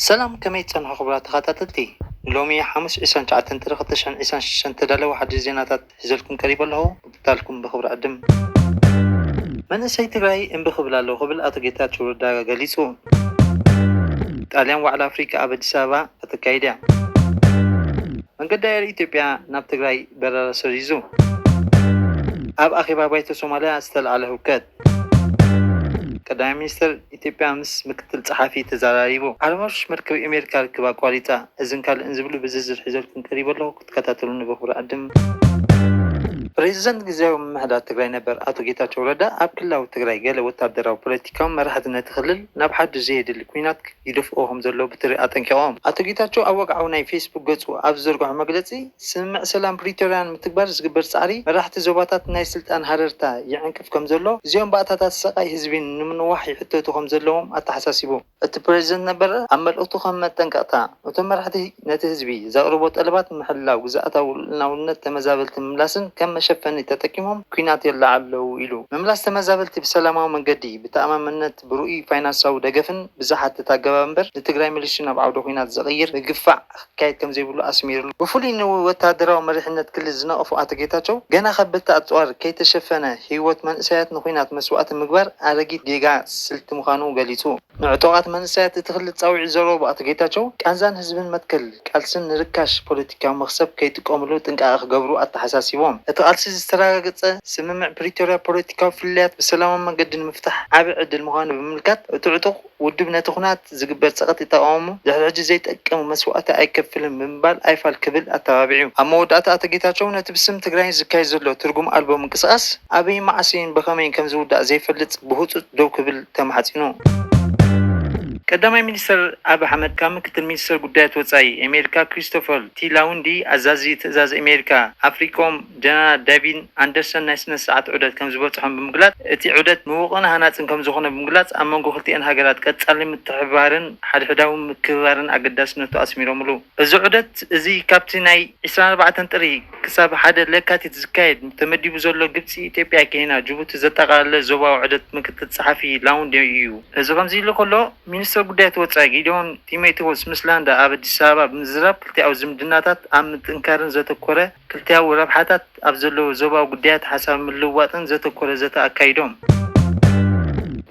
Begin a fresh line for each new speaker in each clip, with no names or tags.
ሰላም ከመይ ትጸንሑ ክቡራት ተኻታተልቲ ንሎሚ ሓሙስ ዕስራን ትሽዓተን ጥሪ ክልተ ሽሕን ዕስራን ሽዱሽተን ዝተዳለወ ሓድሽ ዜናታት ሒዘልኩም ቀሪበ ኣለኹ ምክትታልኩም ብኽብሪ ዕድም። መንእሰይ ትግራይ እምቢ ክብል ኣለዎ ክብል ኣቶ ጌታቸው ረዳ ገሊጹ። ጣልያን ዋዕላ ኣፍሪካ ኣብ ኣዲስ ኣበባ ከተካይድ እያ። መንገዲ ኣየር ኢትዮጵያ ናብ ትግራይ በረራ ሰሪዙ። ኣብ ኣኼባ ባይቶ ሶማልያ ዝተልዓለ ህውከት። ቀዳማይ ሚኒስተር ኢትዮጵያ ምስ ምክትል ጸሓፊ ተዘራሪቡ። ዓለም ወርሽ መርከብ ኤሜሪካ ርክብ ኣቋሪጻ። እዝን ካልእን ዝብሉ ብዝርዝር ሒዘልኩም ቀሪበ ኣለኹ ክትከታተሉኒ ብኽብሪ እዕድም። ፕሬዚደንት ግዝያዊ ምምሕዳር ትግራይ ነበር ኣቶ ጌታቸው ረዳ ኣብ ክልላዊ ትግራይ ገለ ወታደራዊ ፖለቲካዊ መራሕቲ ነቲ ክልል ናብ ሓዱሽ ዘየድሊ ኲናት ይደፍእዎ ከምዘለዉ ብትሪ ኣጠንቂቖም። ኣቶ ጌታቸው ኣብ ወግዓዊ ናይ ፌስቡክ ገፁ ኣብ ዝዘርግሖ መግለፂ፣ ስምምዕ ሰላም ፕሪቶርያ ንምትግባር ዝግበር ፃዕሪ መራሕቲ ዞባታት ናይ ስልጣን ሃረርታ ይዕንቅፍ ከምዘሎ፣ እዚኦም ባእታታት ሰቃይ ህዝቢ ንምንዋሕ ይሕተቱ ከምዘለዎም ኣተሓሳሲቡ። እቲ ፕረዚደንት ነበር ኣብ መልእኽቱ ከም መጠንቀቕታ፣ እቶም መራሕቲ ነቲ ህዝቢ ዘቕርቦ ጠለባት ንምሕላው ግዝኣታዊ ልኡላውነት ተመዛበልቲ ምምላስን ከም መሸፈኒ ተጠቂሞም ኲናት የለዓዕሉ ኣለዉ ኢሉ። ምምላስ ተመዛበልቲ ብሰላማዊ መንገዲ ብተኣማምነት፣ ብርኡይ ፋይናሳዊ ደገፍን ብዝሓትት ኣገባብ እምበር ንትግራይ መሊሱ ናብ ዓውደ ኹናት ዘቕይር ምግፋዕ ክካየድ ከምዘይብሉ ኣስሚርሉ። ብፍሉይ ንወተሃደራዊ መሪሕነት ክልል ዝነቐፉ ኣቶ ጌታቸው፣ ገና ከበድቲ ኣጽዋር ከይተሸፈነ ህይወት መንእሰያት ንኹናት መስዋእቲ ምግባር ኣረጊት ጌጋ ስልቲ ምዃኑ ገሊጹ። ንዕጡቓት መንእሰያት እቲ ክልል ጻውዒት ዘቕረቡ ኣቶ ጌታቸው፣ ቃንዛን ህዝብን መትከል፣ ቃልሲ ንርካሽ ፖለቲካዊ መኽሰብ ከይጥቀምሉ ጥንቃቐ ክገብሩ ኣተሓሳሲቦም። እቲ ቃልሲ ዝተረጋገፀ ስምምዕ ፕሪቶርያ ፖለቲካዊ ፍልልያት ብሰላማዊ መንገዲ ንምፍታሕ ዓብይ ዕድል ምዃኑ ብምምልካት፣ እቲ ዕጡቕ ውድብ ነቲ ኹናት ዝግበር ፀቕጢ ተቓዊሙ ድሕሪ ሕጂ ዘይጠቅም መስዋእቲ ኣይከፍልን ብምባል ኣይፋል ክብል ኣተባቢዑ። ኣብ መወዳእታ ኣቶ ጌታቸው ነቲ ብስም ትግራይ ዝካየድ ዘሎ ትርጉም ኣልቦ ምንቅስቓስ ኣበይን መዓስን ብኸመይን ከምዝውዳእ ዘይፈልጥ ብህፁፅ ደው ክብል ተማሕጺኑ። ቀዳማይ ሚኒስተር ኣብዪ ኣሕመድ ካብ ምክትል ሚኒስተር ጉዳያት ወጻኢ ኣሜሪካ ክሪስቶፈር ቲ ላውንዲ፣ ኣዛዚ ትእዛዝ ኣሜሪካ ኣፍሪኮም ጀነራል ዳቪን ኣንደርሰን ናይ ስነ ስርዓት ዑደት ከምዝበጽሖም ብምግላጽ እቲ ዑደት ምዉቕን ሃናጽን ከምዝኾነ ብምግላጽ ኣብ መንጎ ክልቲኤን ሃገራት ቀጻሊ ምትሕብባርን ሓድሕዳዊ ምክብባርን ኣገዳስነቱ ኣስሚሮምሉ። እዚ ዑደት እዚ ካብቲ ናይ ዕስራን ኣርባዕተን ጥሪ ክሳብ ሓደ ለካቲት ዝካየድ ተመዲቡ ዘሎ ግብፂ፣ ኢትዮጵያ፣ ኬንያ፣ ጅቡቲ ዘጠቓለለ ዞባዊ ዑደት ምክትል ፀሓፊ ላውንዴ ኢዩ። እዚ ከምዚ'ሉ ከሎ፣ ሚኒስተር ጉዳያት ወፃኢ ጊዲዮን ጢሞቴዎስ ምስ ላንዳ ኣብ ኣዲስ ኣበባ ብምዝራብ ክልቲኣዊ ዝምድናታት ኣብ ምጥንካርን ዘተኮረ ክልቲኣዊ ረብሓታት ኣብ ዘለዎ ዞባዊ ጉዳያት ሓሳብ ምልውዋጥን ዘተኮረ ዘተ ኣካይዶም።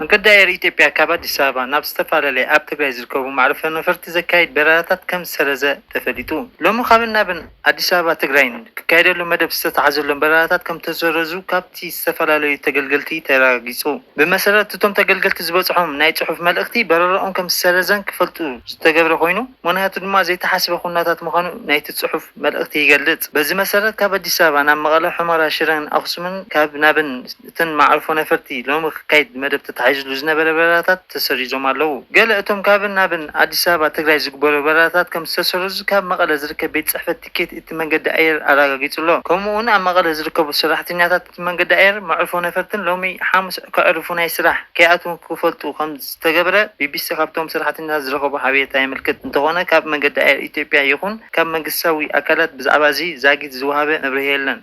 መንገዲ ኣየር ኢትዮጵያ ካብ ኣዲስ ኣበባ ናብ ዝተፈላለያ ኣብ ትግራይ ዝርከቡ መዕርፎ ነፈርቲ ዘካይድ በረራታት ከምዝሰረዘ ተፈሊጡ። ሎሚ ካብን ናብን። ኣዲስ ኣበባ ትግራይን ክካየደሉ መደብ ዝተትሓዘሎም በረራታት ከምተሰረዙ ካብቲ ዝተፈላለዩ ተገልገልቲ ተረጋጊፁ። ብመሰረት እቶም ተገልገልቲ ዝበፅሖም ናይ ፅሑፍ መልእኽቲ በረረኦም ከምዝሰረዘን ክፈልጡ ዝተገብረ ኮይኑ ምኽንያቱ ድማ ዘይተሓስበ ኩነታት ምዃኑ ናይቲ ፅሑፍ መልእኽቲ ይገልፅ። በዚ መሰረት ካብ ኣዲስ ኣበባ ናብ መቐለ፣ ሑመራ፣ ሽረን ኣኽሱምን ካብ ናብን እተን መዓርፎ ነፈርቲ ሎሚ ክካይድ ብመደብ ተታሒዝሉ ዝነበረ በረራታት ተሰሪዞም ኣለዉ። ገለ እቶም ካብን ናብን ኣዲስ ኣበባ ትግራይ ዝግበሩ በረራታት ከምዝተሰረዙ ካብ መቐለ ዝርከብ ቤት ፅሕፈት ቲኬት እቲ መንገዲ ኣየር ኣረጋጊፁ'ሎ። ከምኡ'ውን ኣብ መቐለ ዝርከቡ ሰራሕተኛታት እቲ መንገዲ ኣየር መዕርፎ ነፈርትን ሎሚ ሓሙስ ከዕርፉ ናይ ስራሕ ከይኣትዉ ክፈልጡ ከምዝተገብረ ቢቢሲ ካብቶም ሰራሕተኛታት ዝረኸቦ ሓበሬታ የመልክት። እንተኾነ ካብ መንገዲ ኣየር ኢትዮጵያ ይኹን ካብ መንግስታዊ ኣካላት ብዛዕባ እዚ ዛጊት ዝወሃበ መብርሂ የለን።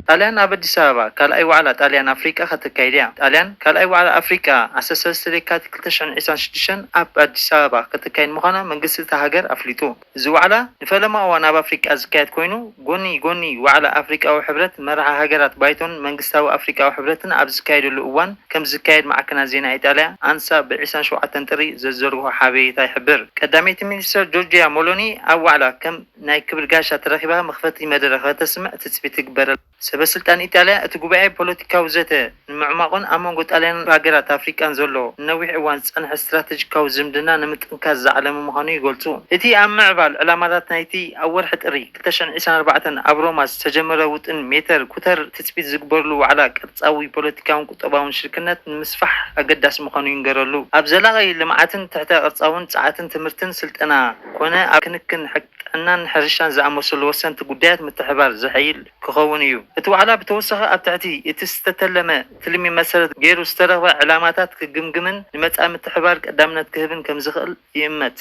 ጣልያን ኣብ ኣዲስ ኣበባ ካልኣይ ዋዕላ ጣልያን ኣፍሪቃ ከተካይድ'ያ። ጣልያን ካልኣይ ዋዕላ ኣፍሪቃ ዓሰርተ ሰለስተ ለካቲት ክልተ ሽሕን ዒስራን ሽዱሽተን ኣብ ኣዲስ ኣበባ ከተካይድ ምዃና መንግስቲ እታ ሃገር ኣፍሊጡ። እዚ ዋዕላ ንፈለማ እዋን ኣብ ኣፍሪቃ ዝካየድ ኮይኑ፣ ጎኒ ጎኒ ዋዕላ ኣፍሪቃዊ ሕብረት፣ መራሒ ሃገራት ባይቶን መንግስታዊ ኣፍሪቃዊ ሕብረትን ኣብ ዝካየደሉ እዋን ከምዝካየድ ማዕከናት ዜና ኢጣልያ ኣንሳ ብ ዕስራን ሸውዓተን ጥሪ ዘዘርግሖ ሓበሬታ ይሕብር። ቀዳመይቲ ሚኒስተር ጆርጂያ ሞሎኒ ኣብ ዋዕላ ከም ናይ ክብል ጋሻ ተረኪብካ መኽፈቲ መደረ ከተስምዕ ትጽቢት ይግበረልካ። ሰበስልጣን ኢጣልያ፣ እቲ ጉባኤ ፖለቲካዊ ዘተ ንምዕሟቝን ኣብ መንጐ ጣልያንን ሃገራት ኣፍሪቃን ዘሎ ንነዊሕ እዋን ዝጸንሐ ስትራተጂካዊ ዝምድና ንምጥንካር ዝዓለመ ምዃኑ ይገልጹ። እቲ ኣብ ምዕባል ዕላማታት ናይቲ ኣብ ወርሒ ጥሪ ክልተ ሽሕን ዒስራን ኣርባዕተን ኣብ ሮማ ዝተጀመረ ውጥን ሜተር ኩተር ትጽቢት ዝግበርሉ ዋዕላ ቅርጻዊ ፖለቲካውን ቁጠባውን ሽርክነት ንምስፋሕ ኣገዳሲ ምዃኑ ይንገረሉ። ኣብ ዘላቒ ልምዓትን ትሕተ ቅርጻውን ጸዓትን ትምህርትን ስልጠና ኮነ ኣብ ክንክን ጥዕናን ሕርሻን ዝኣመሰሉ ወሰንቲ ጉዳያት ምትሕብባር ዘሐይል ክኸውን እዩ። እቲ ዋዕላ ብተወሳኺ ኣብ ትሕቲ እቲ ዝተተለመ ትልሚ መሰረት ገይሩ ዝተረኽበ ዕላማታት ክግምግምን ንመጻኢ ምትሕብባር ቀዳምነት ክህብን ከምዝኽእል ይእመት።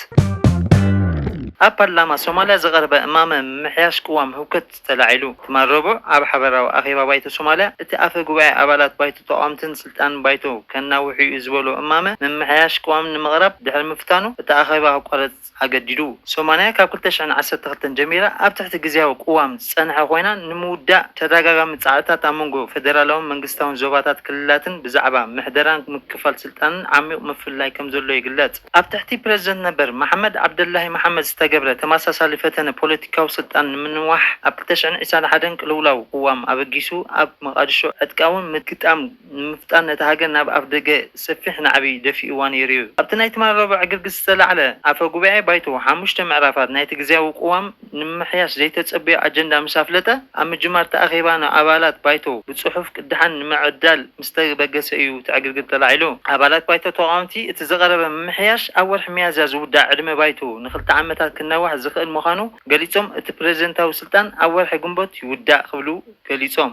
ኣብ ፓርላማ ሶማልያ ዝቐረበ እማመ ምምሕያሽ ቅዋም ህውከት ተላዒሉ። ትማል ረቡዕ ኣብ ሓበራዊ ኣኼባ ባይቶ ሶማልያ፣ እቲ ኣፈ ጉባኤ ኣባላት ባይቶ ተቓወምትን ስልጣን ባይቶ ከናውሕ'ዩ ዝበሎ እማመ ምምሕያሽ ቅዋም ንምቕራብ ድሕሪ ምፍታኑ እቲ ኣኼባ ክቋረጽ ኣገዲዱ። ሶማልያ ካብ ክልተ ሽሕን ዓሰርተ ክልተን ጀሚራ ኣብ ትሕቲ ግዝያዊ ቅዋም ዝጸንሐ ኮይና ንምውዳእ ተደጋጋሚ ጻዕርታት ኣብ መንጎ ፈደራላውን መንግስታውን ዞባታት ክልላትን ብዛዕባ ምሕደራን ምክፍፋል ስልጣንን ዓሚቝ ምፍልላይ ከምዘሎ ይግለጽ። ኣብ ትሕቲ ፕረዚደንት ነበር መሓመድ ዓብደላሂ መሓመድ ዝተገብረ ተመሳሳሊ ፈተነ ፖለቲካዊ ስልጣን ንምንዋሕ ኣብ ክልተ ሽሕን ዒስራን ሓደን ቅልውላው ቅዋም ኣበጊሱ ኣብ መቓድሾ ዕጥቃዊ ምግጣም ንምፍጣር ነታ ሃገር ናብ ኣፍደገ ሰፊሕ ናዕቢ ደፊኡዋ ነይሩ'ዩ። ኣብቲ ናይ ትማል ረቡዕ ዕግርግር ዝተላዕለ ኣፈ ጉባኤ ባይቶ ሓሙሽተ ምዕራፋት ናይቲ ግዝያዊ ቅዋም ንምምሕያሽ ዘይተጸበዮ ኣጀንዳ ምስ ኣፍለጠ፣ ኣብ ምጅማር እቲ ኣኼባ ንኣባላት ባይቶ ብጽሑፍ ቅዳሓን ንምዕዳል ምስ ተበገሰ እዩ እቲ ዕግርግር ተላዒሉ። ኣባላት ባይቶ ተቓወምቲ፣ እቲ ዝቐረበ ምምሕያሽ ኣብ ወርሒ ሚያዝያ ዝውዳእ ዕድመ ባይቶ ንኽልተ ዓመታት ክናዋሕ ዝኽእል ምዃኑ ገሊጾም፣ እቲ ፕረዚደንታዊ ስልጣን ኣብ ወርሒ ግንቦት ይውዳእ ክብሉ ገሊጾም።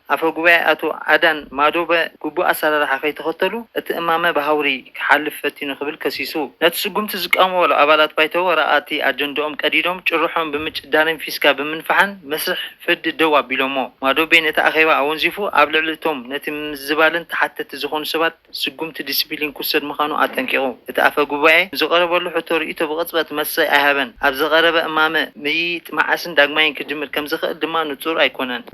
ኣፈ ጉባኤ ኣቶ ኣዳን ማዶበ ግቡእ ኣሰራርሓ ከይተኸተሉ እቲ እማመ ብሃውሪ ክሓልፍ ፈቲኑ ክብል ከሲሱ። ነቲ ስጉምቲ ዝቃወምዎሉ ኣባላት ባይቶ ወረቓቕቲ ኣጀንድኦም ቀዲዶም ጭርሖኦም ብምጭዳንን ፊስካ ብምንፋሕን መስርሕ ፍርዲ ደው ኣቢሎሞ። ማዶቤ ነቲ ኣኼባ ኣወንዚፉ ኣብ ልዕሊ እቶም ነቲ ምምዝባልን ተሓተቲ ዝኾኑ ሰባት ስጉምቲ ዲሲፕሊን ክውሰድ ምዃኑ ኣጠንቂቑ። እቲ ኣፈ ጉባኤ ንዝቐረበሉ ሕቶ ርእይቶ ብቕጽበት መልሲ ኣይሃበን። ኣብ ዝቐረበ እማመ፣ ምይይጥ መዓስን ዳግማይን ክጅምር ከም ዝኽእል ድማ ንጹር ኣይኰነን።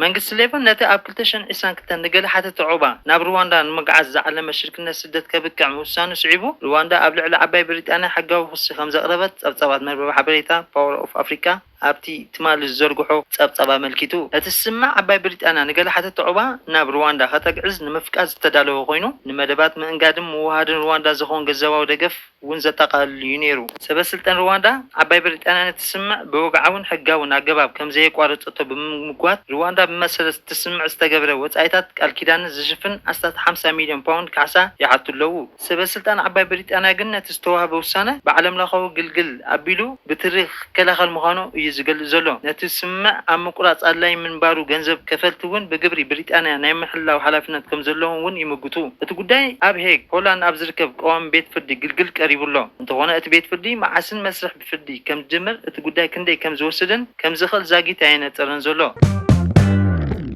መንግስቲ ሌበር ነቲ ኣብ ክልተ ሽሕን ዕስራን ክልተን ንገለ ሓተቲ ዑቕባ ናብ ርዋንዳ ንምግዓዝ ዝዓለመ ሽርክነት ስደት ከብቅዕ ምውሳኑ ስዒቡ፣ ርዋንዳ ኣብ ልዕሊ ዓባይ ብሪጣንያ ሕጋዊ ክሲ ከም ዘቕረበት ጸብጻባት መርበብ ሓበሬታ ፓወር ኦፍ ኣፍሪቃ፣ ኣብቲ ትማሊ ዝዘርግሖ ጸብጻብ ኣመልኪቱ፣ እቲ ስምምዕ ዓባይ ብሪጣንያ ንገለ ሓተቲ ዑቕባ ናብ ርዋንዳ ከተግዕዝ ንምፍቃድ ዝተዳለወ ኮይኑ፣ ንመደባት ምእንጋድን ምውህሃድን ርዋንዳ ዝኸውን ገንዘባዊ ደገፍ እውን ዘጠቓልል እዩ ነይሩ። ሰበስልጣን ርዋንዳ፣ ዓባይ ብሪጣንያ ነቲ ስምምዕ ብወግዓውን ሕጋውን ኣገባብ ከም ዘየቋረጸቶ ብምምጓት፣ ርዋንዳ ብመሰረት እቲ ስምምዕ ዝተገብረ ወጻኢታት ቃል ኪዳንን ዝሽፍን ኣስታት ሓምሳ ሚልዮን ፓውንድ ካሕሳ ይሓቱ ኣለዉ። ሰበስልጣን ዓባይ ብሪጣንያ ግን ነቲ ዝተዋህበ ውሳነ ብዓለምለኸዊ ግልግል ኣቢሉ ብትሪ ክከላኸል ምዃኑ እዩ ዝገልጽ ዘሎ። ነቲ ስምምዕ ኣብ ምቁራጽ ኣድላዪ ምንባሩ ገንዘብ ከፈልቲ እውን ብግብሪ ብሪጣንያ ናይ ምሕላው ሓላፍነት ከም ዘለዎም እውን ይምጉቱ። እቲ ጉዳይ ኣብ ሄግ፣ ሆላንድ ኣብ ዝርከብ ቀዋሚ ቤት ፍርዲ ግልግል ቀሪቡ ኣሎ። እንተኾነ እቲ ቤት ፍርዲ መዓስን መስርሕ ፍርዲ ከም ዝጅምር፣ እቲ ጉዳይ ክንደይ ከም ዝወስድን ከም ዝኽእል ዛጊት ኣየነጸረን ዘሎ።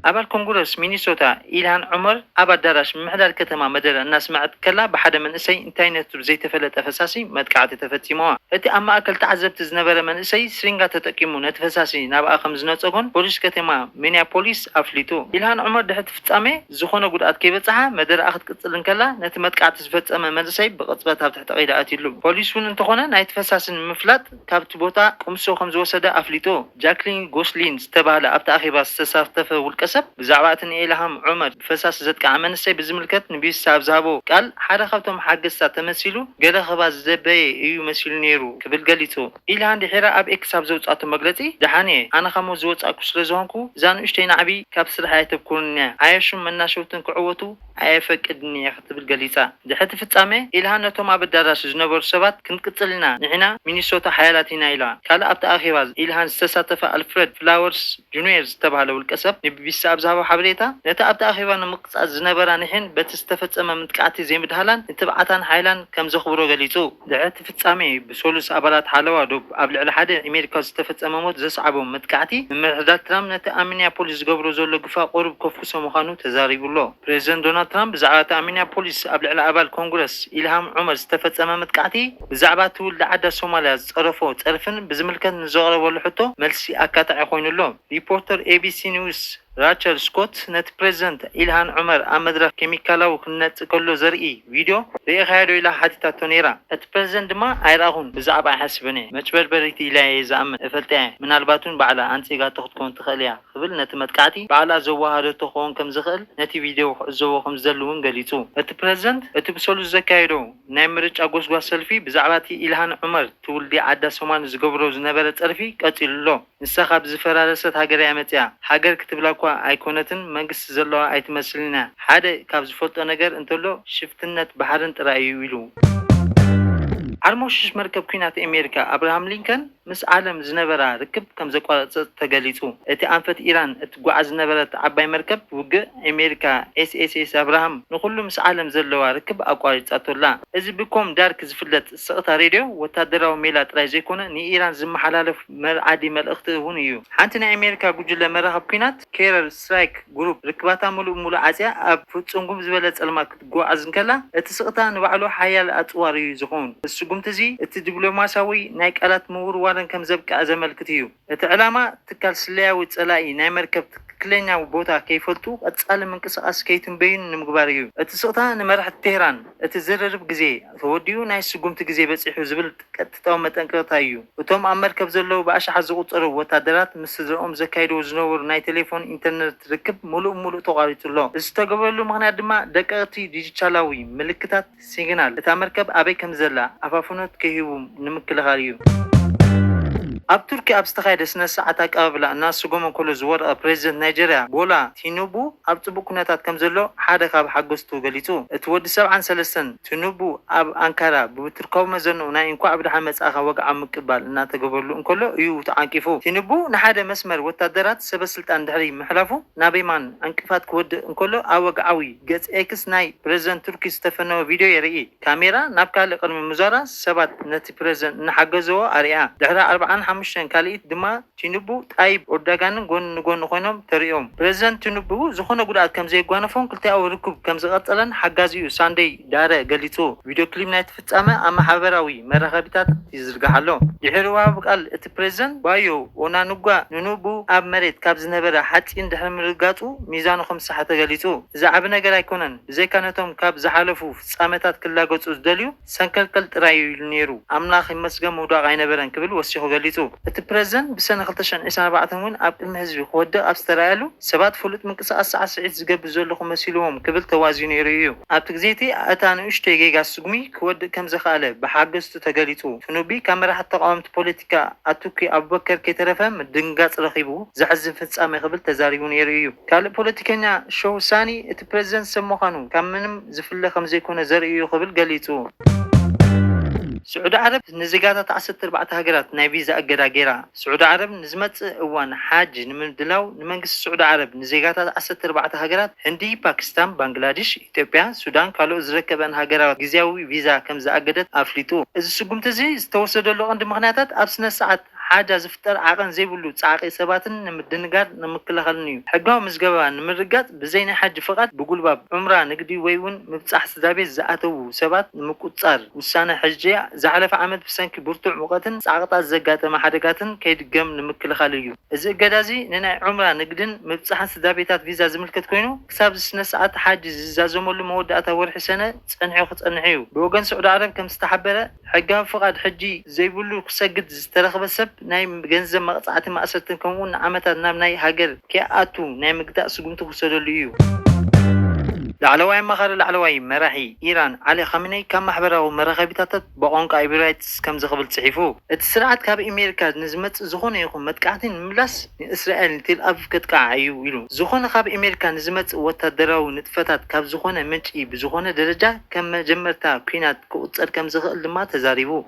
ኣባል ኮንግረስ ሚኒሶታ ኢልሃን ዑመር ኣብ ኣዳራሽ ምምሕዳር ከተማ መደረ እናስመዐት ከላ ብሓደ መንእሰይ እንታይነቱ ዘይተፈለጠ ፈሳሲ መጥቃዕቲ ተፈጺሙዋ። እቲ ኣብ ማእከል ተዓዘብቲ ዝነበረ መንእሰይ ስሪንጋ ተጠቂሙ ነቲ ፈሳሲ ናብኣ ከም ዝነጸጎን ፖሊስ ከተማ ሚኒያፖሊስ ኣፍሊጡ። ኢልሃን ዑመር ድሕሪ እቲ ፍጻሜ ዝኾነ ጉድኣት ከይበጽሓ መደረኣ ክትቅጽል እንከላ ነቲ መጥቃዕቲ ዝፈጸመ መንእሰይ ብቕጽበት ኣብ ታጣቒ ደኣ ኣትዩሉ። ፖሊስ እውን እንተኾነ ናይቲ ፈሳሲ ንምፍላጥ ካብቲ ቦታ ቅምሶ ከምዝወሰደ ኣፍሊጡ። ጃክሊን ጎስሊን ዝተባህለ ኣብቲ ኣኼባ ዝተሳተፈ ውልቀሰብ፣ ብዛዕባ እቲ ንኤልሃም ዑመር ብፈሳሲ ዘጥቅዓ መንእሰይ ብዝምልከት ንቢቢሲ ኣብ ዝሃቦ ቃል፣ ሓደ ካብቶም ሓገዝታ ተመሲሉ ገለ ክህባ ዝደበየ እዩ መሲሉ ነይሩ ክብል ገሊጹ። ኢልሃን ድሒራ ኣብ ኤክስ ኣብ ዘውጽኣቶ መግለጺ፣ ደሓን እየ፣ ኣነ ካብ ሞት ዝወጻእኩ ስለዝኾንኩ እዛ ንኡሽተይ ናዕቢ ካብ ስርሐይ ኣይተብኩርንን'ያ፣ ዓያሹን መናሸውትን ክዕወቱ፣ ኣየፈቅድን'የ ክትብል ገሊጻ። ድሕሪ እቲ ፍጻሜ፣ ኢልሃ ነቶም ኣብ ኣዳራሽ ዝነበሩ ሰባት ክንቅጽል ኢና፣ ንሕና ሚኒሶታ ሓያላት ኢና ኢላ። ካልእ ኣብቲ ኣኼባ ኢልሃን ዝተሳተፈ ኣልፍረድ ፍላወርስ ጁንየር ዝተባህለ ውልቀሰብ ንቢቢሲ ኣብ ዝሃቦ ሓበሬታ፣ ነቲ ኣብቲ ኣኼባ ንምቅጻል ዝነበራ ኒሕን በቲ ዝተፈጸመ ምጥቃዕቲ ዘይምድሃላን ንትብዓታን ሓይላን ከም ዘኽብሮ ገሊጹ። ድሕሪ'ቲ ፍጻሜ፣ ብሰሉስ ኣባላት ሓለዋ ዶብ ኣብ ልዕሊ ሓደ ኣሜሪካዊ ዝተፈጸመ ሞት ዘስዓቦ መጥቃዕቲ፣ ምምሕዳር ትራምፕ ነቲ ኣብ ሚኒያፖሊስ ዝገብሮ ዘሎ ግፋ ቁሩብ ከፍኩሶ ምዃኑ ተዛሪቡ ኣሎ። ፕረዚደንት ዶናልድ ትራምፕ ብዛዕባ እቲ ኣብ ሚኒያፖሊስ ኣብ ልዕሊ ኣባል ኮንግረስ ኢልሃም ዑመር ዝተፈጸመ መጥቃዕቲ፣ ብዛዕባ ትውልዲ ዓዳ ሶማልያ ዝጸረፎ ጸርፍን ብዝምልከት ንዘቕረበሉ ሕቶ መልሲ ኣካታዒ ኮይኑ ኣሎ። ሪፖርተር ኤቢሲ ኒውስ፣ ራቸል ስኮት ነቲ ፕረዚደንት ኢልሃን ዑመር ኣብ መድረኽ ኬሚካላዊ ክንነጽግ ከሎ ዘርኢ ቪድዮ ርኢኻዮዶ ኢላ ሓቲታቶ ነይራ። እቲ ፕረዚደንት ድማ ኣይረኣኹን፣ ብዛዕባ ኣይሓስብን'የ፣ መጭበርበሪት ኢላ'የ ዝኣምን፣ እፈልጣ'የ፣ ምናልባት'ውን ባዕላ ኣንጺጋቶ ክትከውን ትኽእል'ያ ክብል ነቲ መጥቃዕቲ ባዕላ ዘወሃሃደቶ ክኸውን ከም ዝኽእል ነቲ ቪድዮ ክዕዘቦ ከም ዝደሊ'ውን ገሊጹ። እቲ ፕረዚደንት እቲ ብሰሉስ ዘካየዶ ናይ ምርጫ ጎስጓስ ሰልፊ ብዛዕባ'ቲ ኢልሃን ዑመር ትውልዲ ዓዳ ሶማል ዝገብሮ ዝነበረ ጸርፊ ቀጺሉ'ሎ። ንሳ ካብ ዝፈራረሰት ሃገር እያ መጺኣ ሃገር ክትብላ እኳ ኣይኮነትን መንግስቲ ዘለዋ ኣይትመስልን እያ ሓደ ካብ ዝፈልጦ ነገር እንተሎ ሽፍትነት ባሕርን ጥራይ እዩ ኢሉ። ዓርሞሽሽ መርከብ ኲናት ኣሜሪካ ኣብርሃም ሊንከን ምስ ዓለም ዝነበራ ርክብ ከምዘቋረጸት ተገሊጹ። እቲ ኣንፈት ኢራን እትጓዓዝ ዝነበረት ዓባይ መርከብ ውግእ ኣሜሪካ ኤስኤስኤስ ኣብርሃም ንኹሉ ምስ ዓለም ዘለዋ ርክብ ኣቋሪጻቶ ኣላ። እዚ ብኮም ዳርክ ዝፍለጥ ስቕታ ሬድዮ ወታደራዊ ሜላ ጥራይ ዘይኮነ ንኢራን ዝመሓላለፍ መርኣዲ መልእኽቲ እውን እዩ። ሓንቲ ናይ ኣሜሪካ ጉጅለ መራኽብ ኲናት፣ ኬረር ስትራይክ ግሩፕ፣ ርክባታ ምሉእ ብምሉእ ዓጽያ ኣብ ፍጹም ጉም ዝበለ ጸልማት ክትጓዓዝ እንከላ፣ እቲ ስቕታ ንባዕሉ ሓያል ኣጽዋር እዩ ዝኸውን። እዚ ስጉምቲ እዚ፣ እቲ ዲፕሎማስያዊ ናይ ቃላት ምውርዋርን ከም ዘብቅዐ ዘመልክት እዩ። እቲ ዕላማ፣ ትካል ስለያዊ ጸላኢ ናይ መርከብ ትክክለኛ ቦታ ከይፈልጡ ቀጻሊ ምንቅስቓስ ከይትንበዩን ንምግባር እዩ። እቲ ስቕታ ንመራሕቲ ቴህራን፣ እቲ ዝርርብ ግዜ ተወዲኡ ናይ ስጉምቲ ግዜ በጺሑ ዝብል ቀጥታዊ መጠንቀቕታ እዩ። እቶም ኣብ መርከብ ዘለዉ ብኣሽሓት ዝቑጸሩ ወታደራት ምስ ስድራኦም ዘካይድዎ ዝነበሩ ናይ ተሌፎን ኢንተርነት ርክብ ምሉእ ብምሉእ ተቋሪጹ ኣሎ። እዚ ዝተገብረሉ ምኽንያት ድማ ደቀቕቲ ዲጂታላዊ ምልክታት፣ ሲግናል፣ እታ መርከብ ኣበይ ከምዘላ ኣፋፍኖት ከይህቡ ንምክልኻል እዩ። ኣብ ቱርኪ ኣብ ዝተኻየደ ስነ-ስርዓት ኣቀባብላ እናሰጎመ ከሎ ዝወደቐ ፕረዚደንት ናይጀርያ ቦላ ቲኑቡ ኣብ ጽቡቕ ኩነታት ከምዘሎ ሓደ ካብ ሓገዝቱ ገሊጹ። እቲ ወዲ ሰብዓን ሰለስተን ቲኑቡ ኣብ ኣንካራ ብብቱርካዊ መዘንኡ ናይ እንኳዕ ብደሓን መጻእካ ወግዓዊ ምቅባል እናተገበረሉ እንከሎ እዩ ተዓንቂፉ። ቲኑቡ ንሓደ መስመር ወታደራት ሰበስልጣን ድሕሪ ምሕላፉ ናብ የማን ዕንቅፋት ክወድቕ እንከሎ ኣብ ወግዓዊ ገጽ ኤክስ ናይ ፕረዚደንት ቱርኪ ዝተፈነወ ቪድዮ የርኢ። ካሜራ ናብ ካልእ ቅድሚ ምዛራ ሰባት ነቲ ፕረዚደንት እናሓገዘዎ ኣርእያ። ድሕሪ ኣርብዓን ሓሙሽተን ካልኢት ድማ ቲኑቡ፣ ጣይብ ኡርዳጋንን ጎኒ ንጎኒ ኮይኖም ተርእዮም። ፕረዚደንት ቲኑቡ ዝኾነ ጉድኣት ከምዘየጓነፎን ክልቲኣዊ ርኩብ ከምዝቐጸለን ሓጋዚኡ ሳንደይ ዳረ ገሊጹ። ቪድዮ ክሊብ ናይቲ። ፍጻመ ኣብ ማሕበራዊ መራኸቢታት ይዝርጋሕ ኣሎ። ድሒሩ ወሃቢ ቃል እቲ ፕረዚደንት ባዮ ኦናኑጓ ንኑብኡ ኣብ መሬት ካብ ዝነበረ ሓጺን ድሕሪ ምርግጋጹ ሚዛኑ ከም ዝሰሓተ ተገሊጹ። እዚ ዓቢ ነገር ኣይኮነን፣ ብዘይካ ነቶም ካብ ዝሓለፉ ፍጻመታት ክላገጹ ዝደልዩ ሰንከልከል ጥራይ እዩ ኢሉ ነይሩ። ኣምላኽ ይመስገን ምውዳቕ ኣይነበረን ክብል ወሲኹ ገሊጹ። እቲ ፕረዚደንት ብሰነ ክልተ ሽሕን ዒስራን ኣርባዕተን እውን ኣብ ቅድሚ ህዝቢ ክወድቕ ኣብ ዝተራእየሉ፣ ሰባት ፍሉጥ ምንቅስቓስ ሳዕስዒት ዝገብር ዘለኹ መሲልዎም ክብል ተዋዝዩ ነይሩ እዩ። ኣብቲ ግዜ'ቲ እታ ንእሽቶይ ጌጋ ስጉሚ ክወድእ ከም ዘኽኣለ ብሓገዝቱ ተገሊጹ። ፍኑቢ ካብ መራሕቲ ተቓወምቲ ፖለቲካ ኣቱኪ ኣቡበከር ከይተረፈ ምድንጋጽ ረኺቡ፣ ዘሕዝን ፍጻሜ ክብል ተዛሪቡ ነይሩ እዩ። ካልእ ፖለቲከኛ ሸው ሳኒ እቲ ፕረዚደንት ሰብ ምዃኑ ካብ ምንም ዝፍለ ከም ዘይኮነ ዘርኢ እዩ ክብል ገሊጹ። ስዑዲ ዓረብ ንዜጋታት ዓሰርተ ኣርባዕተ ሃገራት ናይ ቪዛ እገዳ ገይራ። ስዑዲ ዓረብ ንዝመጽእ እዋን ሓጅ ንምድላው ንመንግስቲ ስዑዲ ዓረብ ንዜጋታት ዓሰርተ ኣርባዕተ ሃገራት፣ ህንዲ፣ ፓኪስታን፣ ባንግላዲሽ፣ ኢትዮጵያ፣ ሱዳን ካልኦት ዝረከበን ሃገራት ግዝያዊ ቪዛ ከምዝኣገደት ኣፍሊጡ። እዚ ስጉምቲ እዚ ዝተወሰደሉ ቀንዲ ምኽንያታት ኣብ ስነስርዓት ሓጃ ዝፍጠር ዓቐን ዘይብሉ ጻዕቒ ሰባትን ንምድንጋር ንምክልኻልን'ዩ። ሕጋዊ ምዝገባ ንምርግጋጽ ብዘይ ናይ ሓጂ ፍቓድ ብጉልባብ፣ ዑምራ፣ ንግዲ ወይ'ውን ምብጻሕ ስድራቤት ዝኣተዉ ሰባት ንምቁጽጻር፣ ውሳነ ሕጂ ዝሓለፈ ዓመት ብሰንኪ ብርቱዕ ሙቐትን ጻቕጣት ዘጋጠመ ሓደጋትን ከይድገም ንምክልኻል እዩ። እዚ እገዳ'ዚ ንናይ ዑምራ ንግድን ምብጻሕን ስድራቤታት ቪዛ ዝምልከት ኮይኑ፣ ክሳብ'ዚ ስነስርዓት ሓጅ ዝዛዘመሉ መወዳእታ ወርሒ ሰነ ጸኒሑ ክጸንሕ'ዩ። ብወገን ስዑዲ ዓረብ ከምዝተሓበረ፣ ሕጋዊ ፍቓድ ሕጂ ዘይብሉ ክሰግድ ዝተረኽበ ሰብ፣ ናይ ገንዘብ መቕጻዕትን ማእሰርትን ከምኡ'ውን ንዓመታት ናብ ናይ ሃገር ከይኣቱ ናይ ምግታእ ስጉምቲ ክውሰደሉ እዩ። ላዕለዋይ ኣማኻሪ ላዕለዋይ መራሒ ኢራን ዓሊ ኻሚነይ ካብ ማሕበራዊ መራኸቢታታት ብቛንቋ ኤብሪራይትስ ከምዚ ክብል ጽሒፉ፣ እቲ ስርዓት ካብ ኤሜሪካ ንዝመጽእ ዝኾነ ይኹን መጥቃዕቲ ንምምላስ ንእስራኤል ንቴልኣቪቭ ከጥቅዓ እዩ ኢሉ። ዝኾነ ካብ ኤሜሪካ ንዝመጽእ ወታደራዊ ንጥፈታት ካብ ዝኾነ ምንጪ ብዝኾነ ደረጃ ከም መጀመርታ ኲናት ክቑጸር ከምዝኽእል ድማ ተዛሪቡ።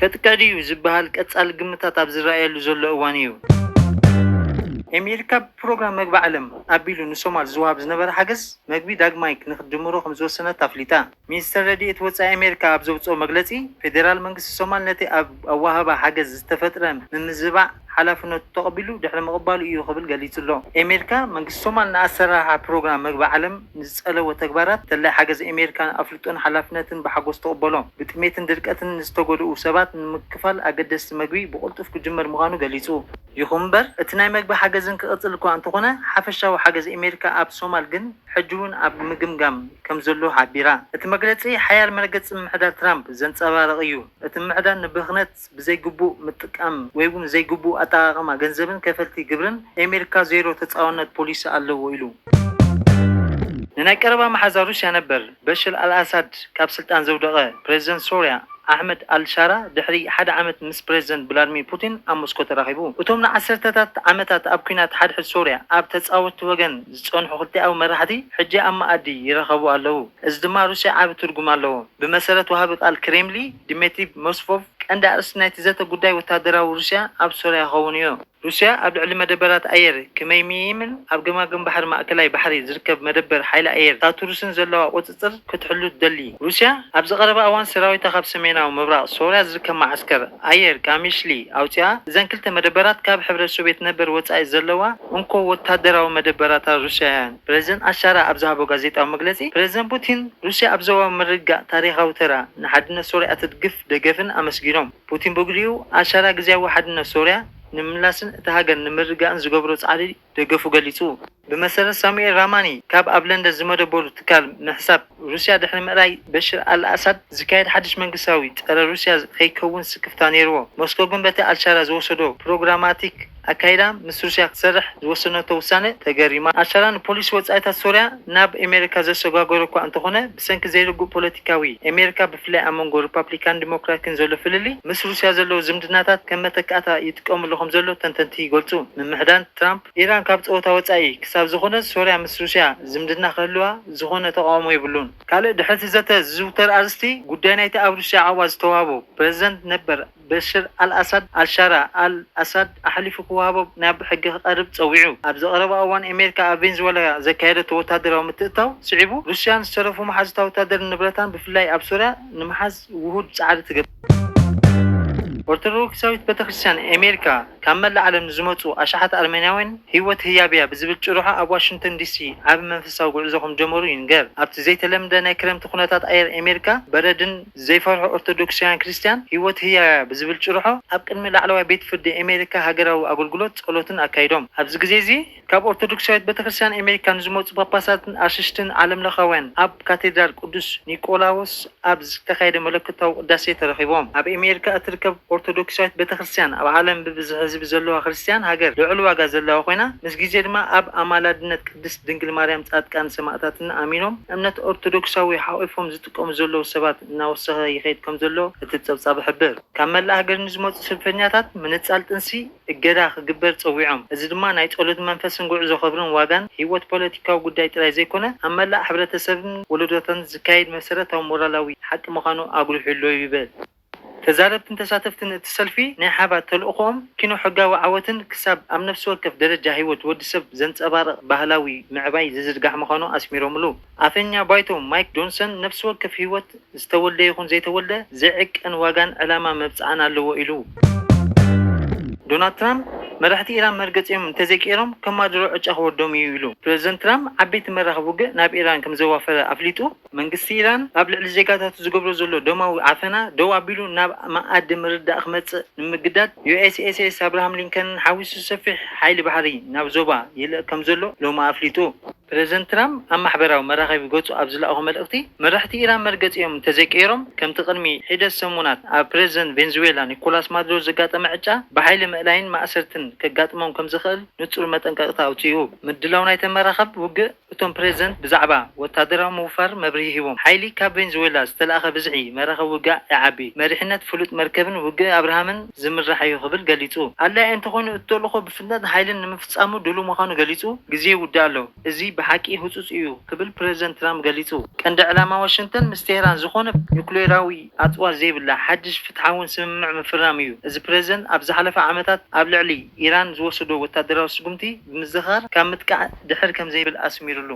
ከጥቀድ እዩ ዝበሃል ቀጻሊ ግምታት ኣብ ዝረኣየሉ ዘሎ እዋን እዩ። ኤሜሪካ ብፕሮግራም መግቢ ዓለም ኣቢሉ ንሶማል ዝወሃብ ዝነበረ ሓገዝ መግቢ ዳግማይ ንክትጅምሮ ከምዝወሰነት ኣፍሊጣ። ሚኒስተር ረድኤት ወጻኢ ኣሜሪካ ኣብ ዘውጽኦ መግለጺ፣ ፌደራል መንግስቲ ሶማል ነቲ ኣብ ኣወሃህባ ሓገዝ ዝተፈጥረ ምምዝባዕ ሓላፍነቱ ተቐቢሉ ድሕሪ ምቕባሉ እዩ ክብል ገሊጹ'ሎ። ኤሜሪካ፣ መንግስቲ ሶማል ንኣሰራርሓ ፕሮግራም መግቢ ዓለም ንዝጸለዎ ተግባራት ደላይ ሓገዝ ኤሜሪካ ኣፍልጦን ሓላፍነትን ብሓጎስ ትቕበሎ። ብጥሜትን ድርቀትን ንዝተጎድኡ ሰባት ንምክፋል ኣገደስቲ መግቢ ብቕልጡፍ ክጅመር ምዃኑ ገሊጹ። ይኹን እምበር እቲ ናይ መግቢ ሓገዝን ክቕጽል እኳ እንተኾነ ሓፈሻዊ ሓገዝ ኤሜሪካ ኣብ ሶማል ግን ሕጂ'ውን ኣብ ምግምጋም ከምዘሎ ሓቢራ። እቲ መግለጺ ሓያል መረገጺ ምምሕዳር ትራምፕ ዘንጸባርቕ እዩ፣ እቲ ምምሕዳር ንብኽነት። ብዘይግቡእ ምጥቃም ወይ'ውን ዘይግቡእ ኣጠቓቕማ ገንዘብን ከፈልቲ ግብርን፣ ኤሜሪካ ዜሮ ተጻዋርነት ፖሊሲ ኣለዎ ኢሉ። ንናይ ቀረባ መሓዛ ሩስያ ነበር በሽር ኣልኣሳድ ካብ ስልጣን ዘውደቐ ፕረዚደንት ሶርያ ኣሕመድ ኣል-ሻራ ድሕሪ ሓደ ዓመት ምስ ፕረዚደንት ብላድሚር ፑቲን ኣብ ሞስኮ ተራኺቡ። እቶም ንዓሰርተታት ዓመታት ኣብ ኲናት ሓድሕድ ሶርያ ኣብ ተጻወትቲ ወገን ዝጸንሑ ክልቲኣዊ መራሕቲ ሕጂ ኣብ መኣዲ ይራኸቡ ኣለዉ፣ እዚ ድማ ሩስያ ዓቢ ትርጉም ኣለዎ። ብመሰረት ወሃቢ ቃል ክሬምሊ ዲሜትሪ ሞስፎቭ፣ ቀንዲ ኣርእስቲ ናይቲ ዘተ ጉዳይ ወተሃደራዊ ሩስያ ኣብ ሶርያ ክኸውን እዩ። ሩስያ ኣብ ልዕሊ መደበራት ኣየር ክመይምይምን ኣብ ገማግም ባሕሪ ማእከላይ ባሕሪ ዝርከብ መደበር ሓይሊ ኣየር ታቱርስን ዘለዋ ቁጽጽር፣ ክትቆጻጸር ክትሕሉ ትደሊ ሩስያ፣ ኣብዚ ቀረባ እዋን ሰራዊታ ካብ ሰሜናዊ ምብራቕ ሶርያ ዝርከብ መዓስከር ኣየር ቃሚሽሊ ኣውጺኣ። እዘን ክልተ መደበራት ካብ ሕብረት ሶቭየት ነበር ወጻኢ ዘለዋ እንኮ ወተሃደራዊ መደበራታ ሩስያ'የን። ፕረዚደንት ኣሻራ ኣብ ዝሃቦ ጋዜጣዊ መግለጺ፣ ፕረዚደንት ፑቲን፣ ሩስያ ኣብ ዞባዊ ምርግጋእ ታሪኻዊ ተራ፣ ንሓድነት ሶርያ እትድግፍ ደገፍን ኣመስጊኖም። ፑቲን ብግዲኡ፣ ኣሻራ ግዝያዊ ሓድነት ሶርያ ንምምላስን እታ ሃገር ንምርግጋእን ዝገብሮ ጻዕሪ፣ ደገፉ ገሊጹ። ብመሰረት ሳሙኤል ራማኒ ካብ ኣብ ለንደን ዝመደበሩ ትካል ምሕሳብ ሩስያ ድሕሪ ምእላይ በሽር ኣል-ኣሳድ ዝካየድ ሓድሽ መንግስታዊ ጸረ ሩስያ ከይከውን ስክፍታ ነይርዎ። ሞስኮ ግን በቲ ኣልሻራ ዝወሰዶ ፕሮግራማቲክ ኣካይዳ ምስ ሩስያ ክትሰርሕ ዝወሰነቶ ውሳነ ተገሪማ። ኣልሻራ ንፖሊሲ ወጻኢታት ሶርያ፣ ናብ ኤሜሪካ ዘሰጓጎረ እኳ እንተኾነ ብሰንኪ ዘይርጉእ ፖለቲካዊ ኤሜሪካ ብፍላይ ኣብ መንጎ ርፓፕሊካን ዲሞክራክን ዘሎ ፍልልይ ምስ ሩስያ ዘለዎ ዝምድናታት ከም መተካእታ ይጥቀምሉ ከምዘሎ ተንተንቲ ይገልጹ። ምምሕዳን ትራምፕ ኢራን ካብ ጸወታ ወጻኢ ክሳብ ዝኾነት ሶርያ ምስ ሩስያ ዝምድና ክህልዋ ዝኾነ ተቓውሞ የብሉን። ካልእ ድሕሪቲ ዘተ ዝዝውተር ኣርእስቲ ጉዳይ ናይቲ ኣብ ሩስያ ዓቕባ ዝተዋህቦ ፕረዚደንት ነበር፣ በሽር ኣል-ኣሳድ፣ ኣል-ሻራ ኣል-ኣሳድ ኣሕሊፉ ክወሃቦ ናይ ኣቢ ሕጊ ክቐርብ ጸዊዑ። ኣብዚ ቀረባ እዋን ኣሜሪካ ኣብ ቬንዝወላያ ዘካየደቶ ወተሃደራዊ ምትእትታው ስዒቡ፣ ሩስያ ንዝተረፉ መሓዙታ ወተሃደርን ንብረታን ብፍላይ ኣብ ሶርያ ንምሓዝ ውሁድ ጻዕሪ ትገብር። ኦርቶዶክሳዊት ቤተክርስትያን ኣሜሪካ ካብ መላእ ዓለም ንዝመጹ ኣሽሓት ኣርመንያውያን ህይወት ህያብ'ያ ብዝብል ጭርሖ ኣብ ዋሽንግተን ዲሲ ዓቢ መንፈሳዊ ጉዕዞ ከምጀመሩ ይንገር። ኣብቲ ዘይተለምደ ናይ ክረምቲ ኩነታት ኣየር ኣሜሪካ በረድን፣ ዘይፈርሑ ኦርቶዶክሳውያን ክርስትያን ህይወት ህያው'ያ ብዝብል ጭርሖ ኣብ ቅድሚ ላዕለዋይ ቤት ፍርዲ ኣሜሪካ ሃገራዊ ኣገልግሎት ጸሎትን ኣካይዶም። ኣብዚ ግዜ'ዚ ካብ ኦርቶዶክሳዊት ቤተክርስትያን ኣሜሪካ ንዝመጹ ጳጳሳትን ኣሽሽትን ዓለምለኻውያን ኣብ ካቴድራል ቅዱስ ኒቆላዎስ ኣብ ዝተኻየደ መለኮታዊ ቅዳሴ ተረኺቦም። ኣብ ኣሜሪካ እትርከብ ኦርቶዶክሳዊት ቤተክርስትያን ኣብ ዓለም ብብዝሒ ህዝቢ ዘለዋ ክርስትያን ሃገር ልዑል ዋጋ ዘለዋ ኮይና ምስ ግዜ ድማ ኣብ ኣማላድነት ቅድስት ድንግል ማርያም ጻድቃን ሰማእታትን ኣሚኖም እምነት ኦርቶዶክሳዊ ሓቚፎም ዝጥቀሙ ዘለዉ ሰባት እናወሰኸ ይኸይድ ከምዘሎ እቲ ፀብፃብ ይሕብር። ካብ መላእ ሃገር ንዝመፁ ሰልፈኛታት ምንፃል ጥንሲ እገዳ ክግበር ፀዊዖም። እዚ ድማ ናይ ፀሎት መንፈስን ጉዕዞ ክብርን ዋጋን ህይወት ፖለቲካዊ ጉዳይ ጥራይ ዘይኮነ ኣብ መላእ ሕብረተሰብን ወለዶታትን ዝካየድ መሰረታዊ ሞራላዊ ሓቂ ምዃኑ ኣጉሊሑ'ሎ ይብል። ተዛረብትን ተሳተፍትን እቲ ሰልፊ ናይ ሓባር ተልእኾኦም ኪኖ ሕጋዊ ዓወትን ክሳብ ኣብ ነፍሲ ወከፍ ደረጃ ህይወት ወዲ ሰብ ዘንጸባርቕ ባህላዊ ምዕባይ ዝዝርጋሕ ምዃኑ ኣስሚሮምሉ። ኣፈኛ ባይቶ ማይክ ጆንሰን ነፍሲ ወከፍ ህይወት ዝተወልደ ይኹን ዘይተወልደ ዘይዕቀን ዋጋን ዕላማ መብጽዓን ኣለዎ ኢሉ። ዶናልድ ትራምፕ መራሕቲ ኢራን መርገጺኦም እንተዘይቀይሮም ከማድሮ ዕጫ ክወርዶም እዩ ኢሉ። ፕረዚደንት ትራምፕ ዓበይቲ መራኽብ ውግእ ናብ ኢራን ከምዘዋፈረ ኣፍሊጡ። መንግስቲ ኢራን ኣብ ልዕሊ ዜጋታቱ ዝገብሮ ዘሎ ደማዊ ዓፈና ደው ኣቢሉ ናብ መኣዲ ምርድዳእ ክመጽእ ንምግዳድ ዩኤስኤስኤስ ኣብርሃም ሊንከንን ሓዊሱ ሰፊሕ ሓይሊ ባሕሪ ናብ ዞባ ይልእክ ከምዘሎ ሎሚ ኣፍሊጡ። ፕረዚደንት ትራምፕ ኣብ ማሕበራዊ መራኸቢ ገጹ ኣብ ዝለኣኾ መልእኽቲ፣ መራሕቲ ኢራን መርገጺኦም እንተዘይቀይሮም ከምቲ ቅድሚ ሒደት ሰሙናት ኣብ ፕረዚደንት ቬንዙዌላ ኒኮላስ ማዱሮ ዘጋጠመ ዕጫ ብሓይሊ ምእላይን ማእሰርትን ከጋጥሞም ከምዝኽእል ንጹር መጠንቀቕታ ኣውጺኡ። ምድላው ናይተን መራኸብ ውግእ፣ እቶም ፕሬዝደንት ብዛዕባ ወታደራዊ ምውፋር መብርሂ ሂቦም። ሓይሊ ካብ ቬንዙዌላ ዝተልኣኸ ብዝሒ መራኽብ ውግእ ይዓቢ፣ መሪሕነት ፍሉጥ መርከብን ውግእ ኣብርሃምን ዝምራሕ'ዩ ክብል ገሊጹ። ኣድላዪ እንተኾይኑ እቲ ተልእኾ ብፍጥነትን ሓይልን ንምፍጻሙ ድሉው ምዃኑ ገሊጹ፣ ግዜ ይውዳእ ኣሎ፣ እዚ ብሓቂ ህጹጽ እዩ ክብል ፕሬዝደንት ትራምፕ ገሊጹ። ቀንዲ ዕላማ ዋሽንግተን ምስ ቴህራን ዝኾነ ኑክሌራዊ ኣጽዋር ዘይብላ ሓድሽ ፍትሓውን ስምምዕ ምፍራም እዩ፣ እዚ ፕሬዝደንት ኣብ ዝሓለፈ ዓመታት ኣብ ልዕሊ ኢራን ዝወሰዶ ወታደራዊ ስጉምቲ፣ ብምዝኻር ካብ ምጥቃዕ ድሕር ከምዘይብል ኣስሚርሉ።